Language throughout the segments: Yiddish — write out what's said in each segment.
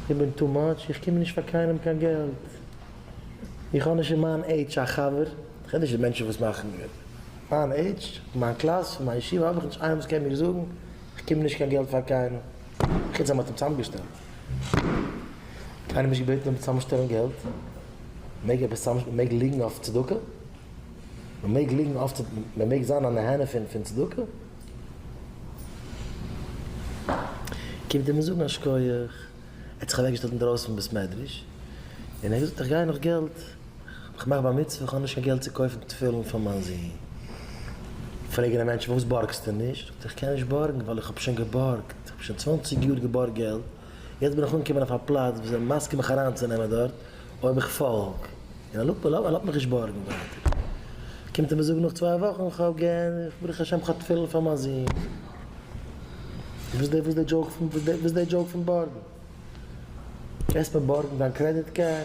איך בין טו מאטש, איך קום נישט פאר קיינעם קיין געלט, איך האב נישט אין מיין עידזש א חבר, איך רעד נישט פון מענטשן וואס מאכן געלט, אין מיין עידזש, אין מיין קלאס, אין מיין ישיבה האב איך נישט איינעם וואס קען מיר זאגן איך קום נישט קיין געלט פאר קיינעם, חוץ אז מען האט אים צוזאמגעשטעלט, קיינער נישט געבעטן אים צוזאמשטעלן געלט, מען מעג עפעס צוזאם מען מעג ליגן אויף צדקה? מען מעג ליגן אויף צדקה? מען מעג זיין א נהנה פון צדקה? קומט ער מיר זאגן א שקויעך, ער האט זיך אוועק געשטעלט אינדרויסן פון בית מדרש, און ער האט געזאגט איך גיי נאך געלט, איך מאך בר מצוה איך האב נישט קיין געלט צו קויפן תפילין פאר מיין זון, פרעג איך די מענטשן פארוואס בארגסטו נישט, זאגט ער איך קען נישט בארגן ווייל איך האב שוין געבארגט, איך האב שוין צוואנציג יאר געבארגט געלט, יעצט בין איך אנגעקומען אויף א פלאץ וואס זענען מסכים מיך אריינצונעמען דארט אויב איך פאלג, און ער לאזט מיר, ער האט מיך נישט בארגן ווייטער, קומט ער מיר זאגן נאך צוויי וואכן איך האב געענדיגט, ברוך השם איך האב תפילין פאר מיין זון, וואס איז די דזשאוק פון, וואס איז די דזשאוק פון בארגן? גייסט מיר בארגן דיין קרעדיט קארד?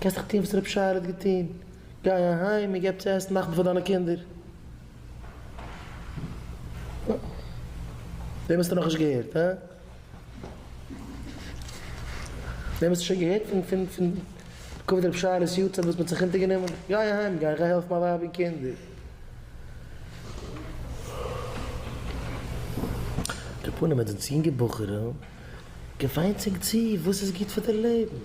קענסט דאך טון וואס ר' פשעי'לע האט געטון, גיי אהיים און געב צו עסן נאכט פאר דיינע קינדער. דעם האסטו נאכנישט געהערט, הא? דעם האסטו שוין געהערט פון פון כבוד ר' פשעי'לעס יארצייט וואס מ'האט זיך אונטערגענומען? גיי אהיים, גיי גיי העלף מיין ווייב און קינדער. די פנים מיט די צינגער בחורים. געוויינט זיך צו וואס איז גוט פאר די לעבן.